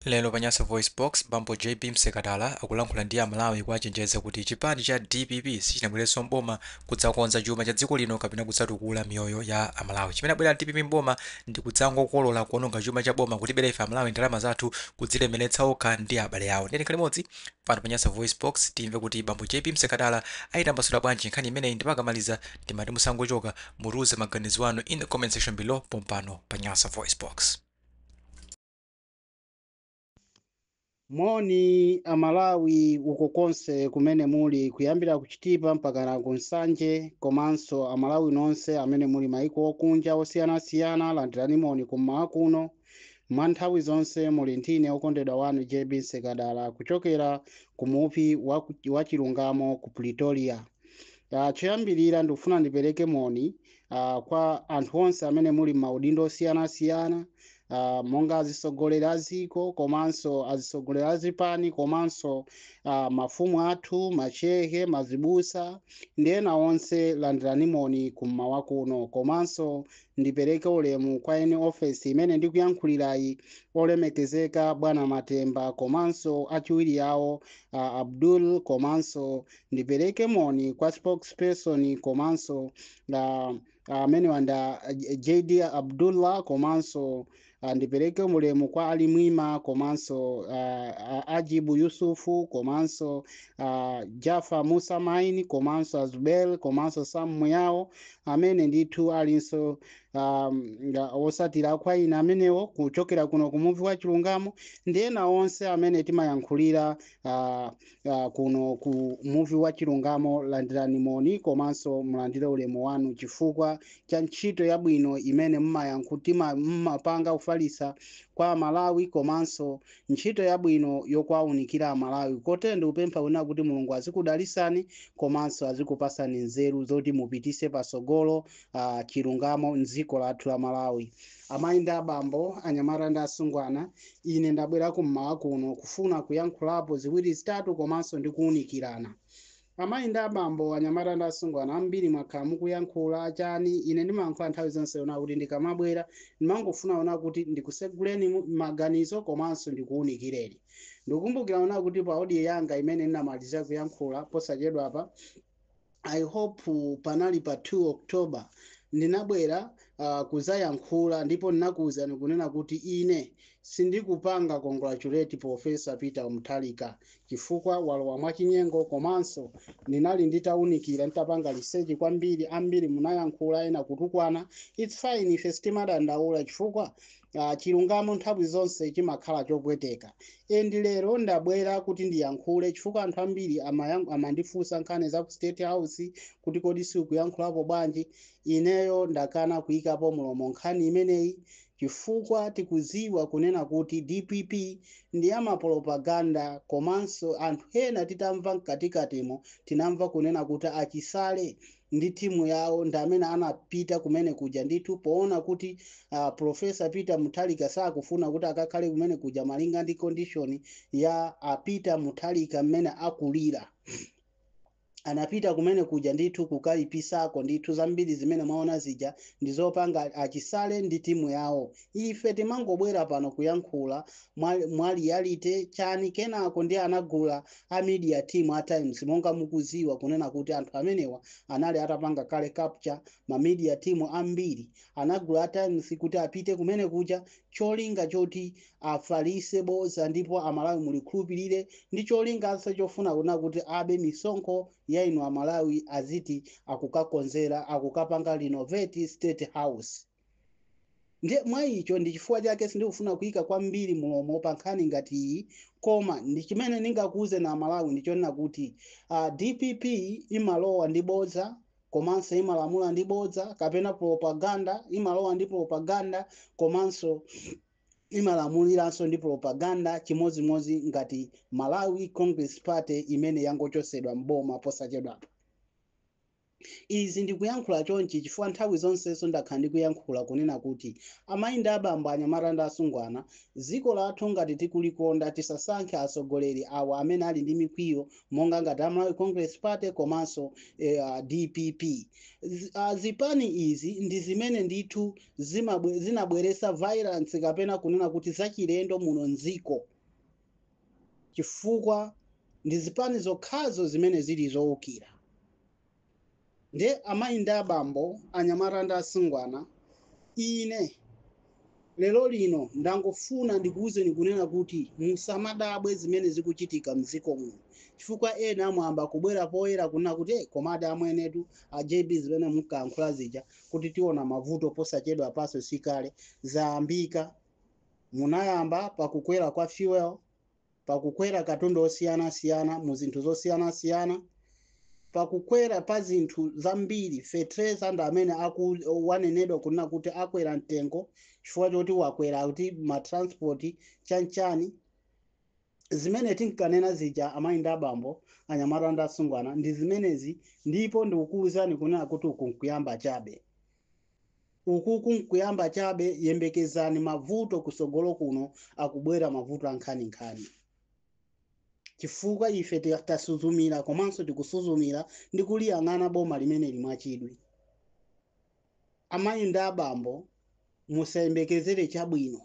Lero pa Nyasa VoiceBox, bambo JB Msekatala akulankhula ndi a Malawi kuwachenjeza kuti chipani cha dpp sichinabwerenso m'boma kudzakonza chuma cha dziko lino kapena kudzatukula miyoyo ya a Malawi. Chimene abwera dpp m'boma ndi kudzangokolola, kuononga chuma cha boma, kutibera ife a Malawi ndalama zathu, kudzilemeretsa okha ndi abale awo. Ndiye tikhale limodzi pano pa Nyasa VoiceBox timve kuti bambo JB Msekatala aitambasula bwanji nkhani imeneyi ndipo akamaliza ndimati musangochoka, mutiuze maganizo anu in the comment section below pompano pa Nyasa VoiceBox. Moni a Malawi uko konse kumene muli kuyambira ku Chitipa mpakana ku Nsanje komanso a Malawi nonse amene muli maiko okunja osiyanasiyana landirani moni kummawa kuno. Mwa nthawi zonse muli ndi ine okondedwa wanu JB Msekatala kuchokera ku muvi wa chilungamo ku Pretoria. Ah, choyambirira ndikufuna ndipereke moni uh, kwa anthu onse amene muli maudindo osiyanasiyana uh, monga azitsogoleri a dziko komanso azitsogoleri a zipani komanso uh, mafumu athu machehe mazibusa ndi ena onse landirani moni kummawa kuno komanso ndipereke ulemu kwa eni ofesi imene ndikuyankhulirayi olemekezeka bwana matemba komanso achiwiri awo uh, abdul komanso ndipereke moni kwa spokesperson komanso amene wanda J- JD Abdullah komanso ah, ndipereke ulemu kwa Ali Mwima komanso ah, ah, Ajibu Yusufu komanso ah, Jafa Musa Maini komanso Azubel komanso Sam Muyao amene ndithu alinso um, nga- otsatira kwa ine amenewo kuchokera kuno kumuvi wa chilungamo ndi ena onse amene timayankhulira ah, uh, kuno ku muvi wa chilungamo landirani moni komanso mulandire ulemu wanu chifukwa cha ntchito yabwino imene mmayankhu- mmapanga kufalisa kwa amalawi komanso ntchito yabwino yowaunikira amalawi kotero ndikupempha kunena kuti mulungu azikudalisani komanso azikupasani nzeru zoti mupitise pasogolo uh, chilungamo mdziko lathu la malawi Amayi ndi abambo, anyamata ndi asungwana, ine ndabwera ku mmawa kuno kufuna kuyankhulapo ziwiri zitatu komanso ndi kuunikirana. Amayi ndi abambo, anyamata ndi asungwana, ambiri mwakhala mukuyankhula, chani, ine ndimayankhula nthawi zonse kunena kuti ndikamabwera, ndimangofuna kunena kuti ndikuseguleni mu- maganizo komanso ndikuunikireni. Ndikukumbukira kunena kuti pa audio yanga imene ndinamaliza kuyankhula posachedwapa, i hope panali pa 2 october ndinabwera uh, kuzayankhula ndipo ndinakuwuzani kunena kuti ine sindikupanga congratulate profesa peter mutharika chifukwa walowa mwachinyengo komanso ndinali nditawunikira nditapanga research kwambiri ambiri munayankhula ena kutukwana its fine ife sitimadandaula chifukwa uh, chilungamo nthawi zonse chimakhala chopweteka and lero ndabwera kuti ndiyankhule chifukwa anthu ambiri amayan- amandifunsa nkhani za ku state house kuti kodi sikuyankhulapo bwanji ineyo ndakana kuyikapo mulomo nkhani imeneyi chifukwa tikuziwa kunena kuti dpp ndi amapropaganda komanso anthu ena titamva mkatikatimo tinamva kunena kuti achisale ndi timu yawo ndi amene anapita kumene kuja ndithu poona kuti uh, profesa peter Mutharika sakufuna kuti akakhale kumene kuja malinga ndi condition ya uh, peter Mutharika mmene akulira anapita kumene kuja ndithu kukayipisako ndithu zambiri zimene mwaona zija ndi zopanga achisale ndi timu yawo ife timangobwera pano kuyankhula mwa- mwa reality chani kenako ndiye anagula a media team a times monga mukuziwa kunena kuti anthu amenewa anali atapanga kale capture ma media team ambiri anagula a times kuti apite kumene kuja cholinga choti afalise boza ndipo amalawi mulikhulupirire ndi cholinganso chofuna kunena kuti abe misonkho ya inu amalawi aziti akukakonzera akukapanga renovate state house Ndiye, mwa icho, ndi chifukwa chake sindikufuna kuika kwambiri mulomo pa nkhani ngati iyi, koma ndi chimene ndingakuuzeni a Malawi ndi chonena kuti, a, dpp imalowa ndi bodza komanso imalamula ndi bodza, kapena propaganda, imalowa ndi propaganda komanso imalamuliranso ndi propaganda, chimodzimodzi ngati Malawi Congress Party imene yangochotsedwa m'boma posachedwapa. Izi ndikuyankhula chonchi chifukwa nthawi zonsenso ndakhala ndikuyankhula kunena kuti amayi ndi abambo, anyamata ndi asungwana, dziko lathu ngati tikulikonda tisasankhe atsogoleri awa amene ali ndi mikwiyo monga ngati a Malawi Congress Party komanso a dpp. Zipani izi ndi zimene ndithu zinabweretsa violence kapena kunena kuti zachilendo muno m'dziko. chifukwa ndi zipani zokhazo zimene zili zoukira nde amayi ndi abambo, anyamata ndi asungwana ine lero lino ndangofuna ndikuuzeni kunena kuti musamadabwe zimene zikuchitika mdziko muno chifukwa ena mwayamba kubwera poyera kunena kuti eh, komadi amwenetu a JB zimene munkayankhula zija kuti tiona mavuto posachedwapanso sikale zayambika Munayamba pa kukwera kwa fuel, pa kukwera katundu osiyana siyana mu zinthu zosiyana siyana, pa kukwera pa zinthu zambiri, fetreza ndi amene wanenedwa kunena kuti akwera mtengo chifukwa choti wakwera kuti ma transport chanchani. Zimene tinkanena zija amayi ndi abambo, anyamata ndi asungwana ndi zimenezi ndipo ndikukuwuzani kunena kuti uku nkuyamba chabe. Ukuku nkuyamba chabe, yembekezani mavuto kusogolo kuno akubwera mavuto ankhani nkhani. Chifukwa ife tasuzumila komanso tikusuzumila ndi kuliyang'ana boma limeneli mwachidwi. Amayi ndi abambo musayembekezele chabwino.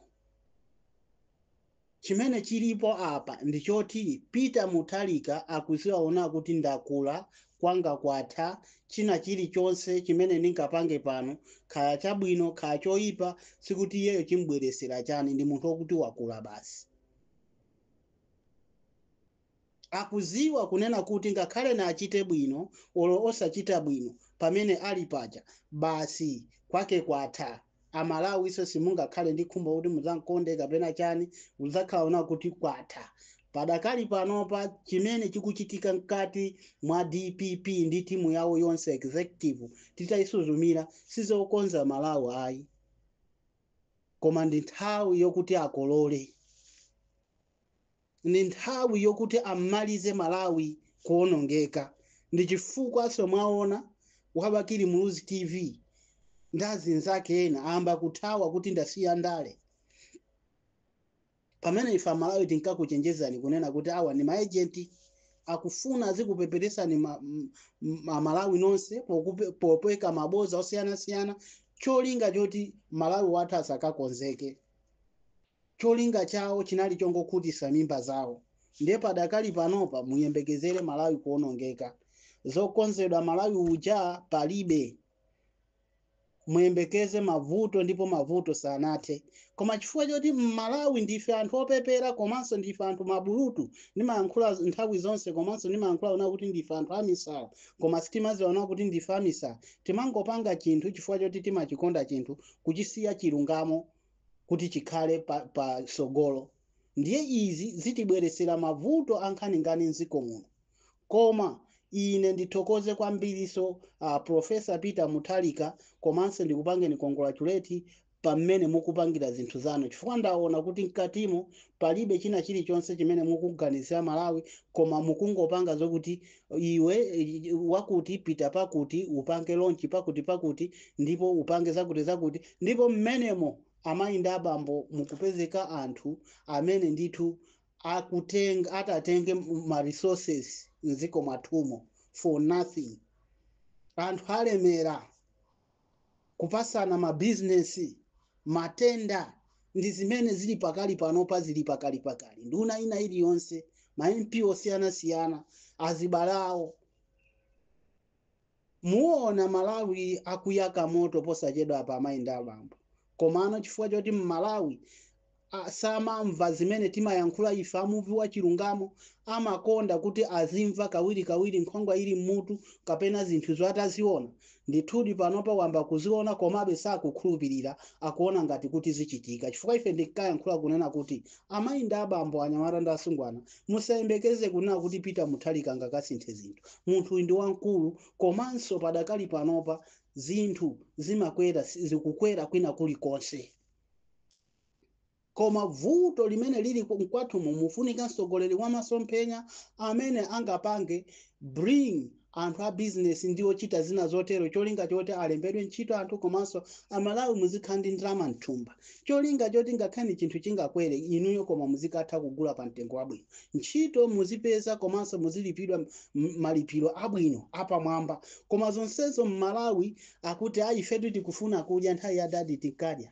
Chimene chilipo apa ndi choti Peter Mutharika akuziona kuti ndakula, kwanga kwatha, china chili chonse chimene ndingapange pano kaya chabwino kaya choipa sikuti iyeyo chimubweresera chani ndi munthu okuti wakula basi. Akuziwa kunena kuti ngakhale na achite bwino olo osachita bwino pamene ali paja basi kwake kwatha. Amalawiso simungakhale ndi khumbo kuti muzankonde kapena chani uzakhala ona kuti kwatha. Padakali panopa chimene chikuchitika mkati mwa dpp ndi timu yawo yonse executive titayisuzumira sizokonza Malawi ayi koma ndi nthawi yokuti akolole. ndi nthawi yokuti ammalize malawi kuonongeka ndichifukwaso mwaona wa bakili muluzi tv ndi azinzake ena ayamba kuthawa kuti ndasiya ndale pamene ife amalawi tinkakuchenjezani kunena kuti awa ndi maejenti akufuna azikupeperesani ma- m- m- amalawi nonse pokupe- popeka maboza osiyanasiyana cholinga choti malawi wathu asakakonzeke cholinga chawo chinali chongokhutisa mimba zawo ndiye padakali panopa muyembekezere Malawi kuonongeka zokonzedwa Malawi uja palibe muyembekeze mavuto ndipo mavuto sanathe koma chifukwa choti mmalawi ndife anthu opepera komanso ndife anthu mabulutu ndimayankhula nthawi zonse komanso ndimayankhula ona kuti ndife anthu amisala koma sitimaziona kuti ndife amisala timangopanga chinthu chifukwa choti timachikonda chinthu kuchisiya chilungamo kuti chikhale pa pa sogolo ndiye izi zitibweresera mavuto ankhaninkhani mziko muno koma ine ndithokoze kwambiriso a professor peter mutharika komanso ndikupangeni congratulate pamene mukupangira zinthu zanu chifukwa ndaona kuti mkatimo palibe china chilichonse chimene mukuganizira malawi koma mukungopanga zokuti iwe wakuti pita pakuti upange launch pakuti pakuti ndipo upange zakuti zakuti ndipo mmenemo amayi ndi abambo mukupezeka anthu amene ndithu akutenga atatenge ma resources mdziko mwathumo for nothing anthu alemera kupasana mabizinesi, matenda ndi zimene zili pakali panopa zili pakalipakali. Nduna ina iliyonse, ma MP osiyanasiyana, azibale awo. Muona Malawi akuyaka moto posachedwapa amayi ndi abambo. Komano chifukwa choti m'Malawi a samamva zimene timayankhula ife a muvi wa chilungamo amakonda kuti azimva kawirikawiri nkhwangwa ili m'mutu kapena zinthuzo ataziona ndithudi panopa wamba kuziona komabe sakukhulupirira akuona ngati kuti zichitika chifukwa ife ndinkayankhula kunena kuti amayi ndi abambo anyamata ndi asungwana musayembekeze kunena kuti peter mutharika angakasinthe zinthu munthu uyu ndi wamkulu komanso padakali panopa zinthu zimakwera si- zikukwera kwina kulikonse koma vuto limene lili ku- mkwathumo mufunika mtsogoleri wa masomphenya amene angapange bring anthu a business ndi ochita zina zotero cholinga choti alembedwe ntchito anthu komanso amalawi muzikhala ndi ndalama mthumba cholinga choti ngakhale chinthu chingakwere inuyo koma muzikatha kugula pa mtengo wabwino ntchito muzipeza komanso muzilipidwa m- malipiro abwino apamwamba koma zonsezo mmalawi akuti ayi ifetu tikufuna kudya nthawi ya dadi tinkadya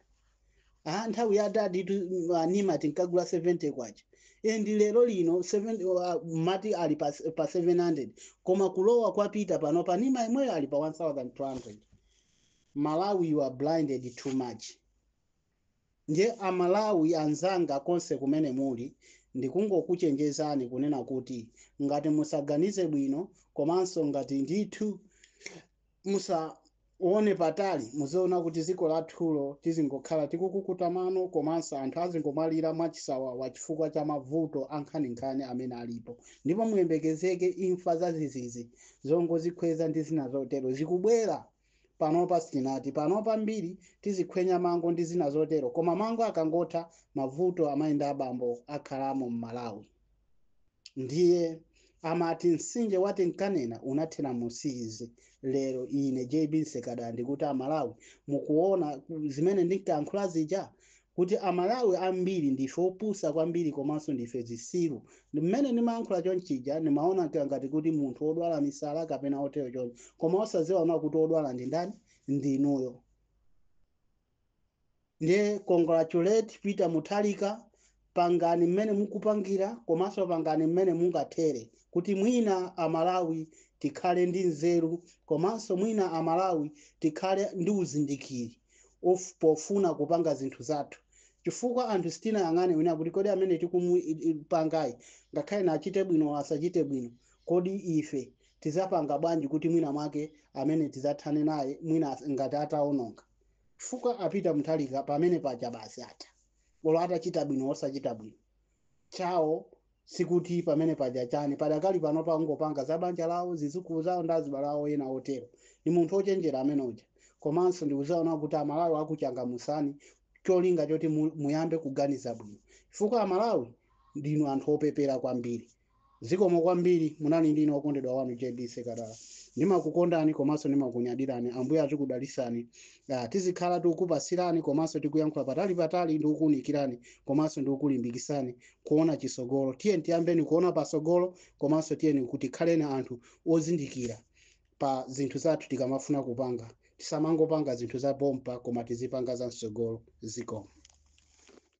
ah nthawi ya dadi tu uh, nima tinkagula 70 kwacha and lero lino 7 uh, mmati ali pa, pa 700 koma kulowa kwa peter panopa nima imweyo ali pa 1200 malawi you are blinded too much ndiye amalawi anzanga konse kumene muli ndikungokuchenjezani kunena kuti ngati musaganize bwino komanso ngati ndithu musaone patali muziona kuti dziko lathulo tizingokhala tikukukuta mano komanso anthu azingomwalira mwachisawawa chifukwa cha mavuto ankhaninkhani amene alipo ndipo muyembekezeke imfa zazizizi zongozikhweza ndi zina zotero zikubwera panopa sitinati panopa ambiri tizikhwenya mango ndi zina zotero koma mango akangotha mavuto amayi ndi abambo akhalamo m'malawi ndiye amati msinje wa tinkanena unathera mu siizi lero ine jb nsekada ndikuti amalawi mukuona zimene ndinkayankhula zija kuti amalawi ambiri ndife opusa kwambiri komanso ndife zisiru mmene ndimayankhula chonchija ndimaoneka ngati kuti munthu odwala misala kapena otero choncho koma osaziona kuti odwala ndi ndani ndinuyo Nde congratulate Peter Mutharika pangani mmene mukupangira komanso pangani mmene mungathere kuti mwina a Malawi tikhale ndi nzeru komanso mwina a Malawi tikhale ndi uzindikiri pofuna kupanga zinthu zathu chifukwa anthu sitinayang'ane kunena kuti kodi amene tikumupangayi ngakhale na achite bwino asachite bwino kodi ife tizapanga bwanji kuti mwina mwake amene tizathane naye mwina as- ngati ataononga chifukwa a Peter Mutharika pamene paja basi atha olo atachita bwino osachita bwino chawo sikuti pamene paja chani padakali pano angopanga za banja lawo zizukulu zawo ndi azibale awo ena otero ndi munthu ochenjera amene uja komanso ndikuzaona kuti amalawi akuchangamusani cholinga choti mu- muyambe kuganiza bwino chifukwa amalawi ndinu anthu opepera kwambiri Zikomo kwambiri munali ndine okondedwa wanu JB Sekadala ndimakukondani komanso ndimakunyadirani ambuye azikudalisani ah, tizikhala tikukupasirani komanso tikuyankhula patali patali ndikukuunikirani komanso ndikukulimbikisani kuona chisogolo tiyeni tiyambeni kuona pasogolo komanso tiyeni tikhaleni anthu ozindikira pa zinthu zathu tikamafuna kupanga tisamangopanga zinthu za pompa koma tizipanga za msogolo zikomo